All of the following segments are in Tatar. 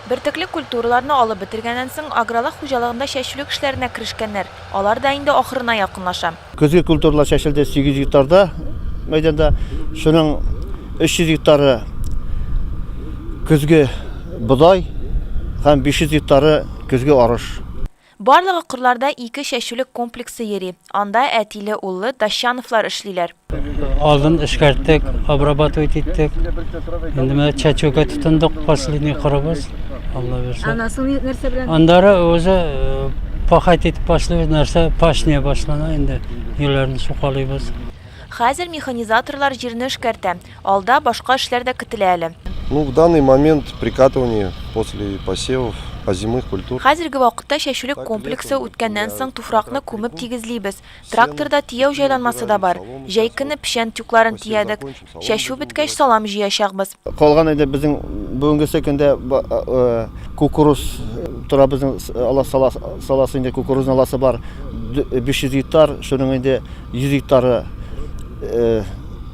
Бөртекле культураларны алып бетергәннән соң, агралык хуҗалыгында чәчүлек эшләренә керешкәннәр. Алар да инде ахырына якынлаша. Көзге культуралар чәчелде 800 гектарда мәйданда. Шуның 300 гектары көзге бодай һәм 500 гектары көзге арыш. Барлыгы кырларда ике чәчүлек комплексы йөри, анда әтиле-уллы Дощановлар эшлиләр. Алын эшкәрттек, обрабатывать иттек. Инде менә чәчүгә тотындык, последний кырыбыз. Алла бирсә. Анасын нәрсә белән? Андары үзе э, пахать итеп башлый, нәрсә пашня башлана инде. Юлләрне сукалыйбыз. Хәзер механизаторлар җирне эшкәртә. Алда башка эшләр дә көтелә әле. Ну, в данный момент прикатывание после посевов озимых культур. Хәзерге вакытта чәчүлек комплексы үткәннән соң туфракны күмеп тигезлибез. Тракторда тияү җайланмасы да бар. Җәй көне печән тюкларын тиядек. Чәчү беткәч, салам җыячакбыз. Калган инде безнең бүгенгесе көндә кукуруз тора, безнең ала, сала, саласы инде кукурузның аласы бар, 500 гектар, шуның инде. 100 гектары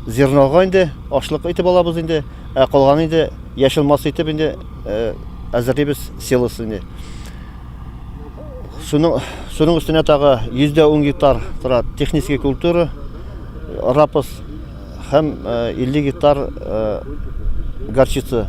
зернога инде, ашлык итеп алабыз инде, ә калганы инде яшел масса итеп инде әзерлибез силос инде. Суның суның өстенә тагы 110 гектар тора технический культура, рапс һәм 50 гектар горчица.